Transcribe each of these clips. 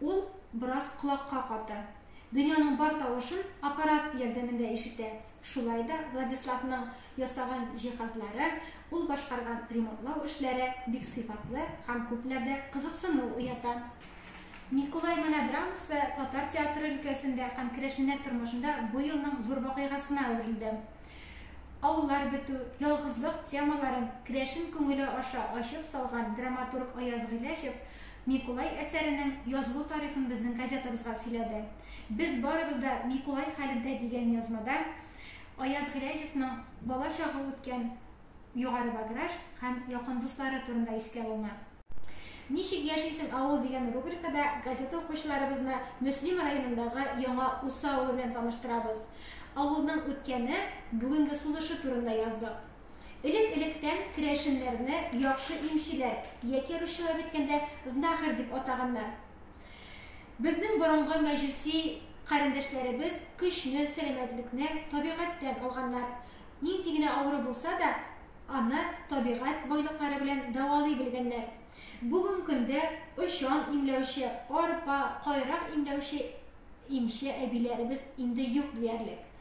Ул бераз колакка каты. Дөньяның бар тавышын аппарат ярдәмендә ишетә. Шулай да Владиславның ясаган җиһазлары, ул башкарган ремонтлау эшләре бик сыйфатлы һәм күпләрдә кызыксыну уята. Микулай монодрамасы татар театры өлкәсендә һәм керәшеннәр тормышында бу елның зур вакыйгасына әверелде. Авыллар бетү, ялгызлык темаларын керәшен күңеле аша ачып салган драматург Аяз Гыйләҗев Микулай әсәренең язылу тарихын безнең газетабызга сөйләде. Без барыбыз да Микулай хәлендә дигән язмада Аяз Гыйләҗевның бала чагы үткән Югары Баграж һәм якын дуслары турында искә алына. Ничек яшисең, авыл дигән рубрикада газета укучыларыбызны Мөслим районындагы Яңа Усы авылы белән таныштырабыз. Авылның үткәне, бүгенге сулышы турында яздык. Элек-электән керәшеннәрне яхшы имчеләр яки русчалап әйткәндә, знахарь дип атаганнар. Безнең борынгы мәҗүси карендәшләребез көчне, сәламәтлекне табигатьтән алганнар. Нинди генә авыру булса да, аны табигать байлыклары белән дәвалый белгәннәр. Бүген көндә очан имләүче, арпа, кайрак имләүче имче әбиләребез инде юк диярлек.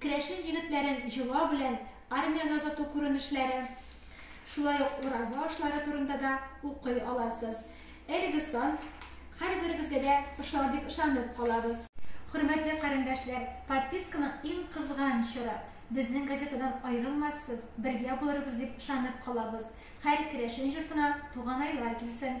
Керәшен җегетләрен җола белән армиягә озату күренешләре, шулай ук ураза ашлары турында да укый аласыз. Әлеге сан һәрберегезгә дә ошар дип ышанып калабыз. Хөрмәтле карендәшләр, подписканың иң кызган чоры. Безнең газетадан аерылмассыз, бергә булырбыз дип ышанып калабыз. Хәр керәшен җортына туганайлар килсен!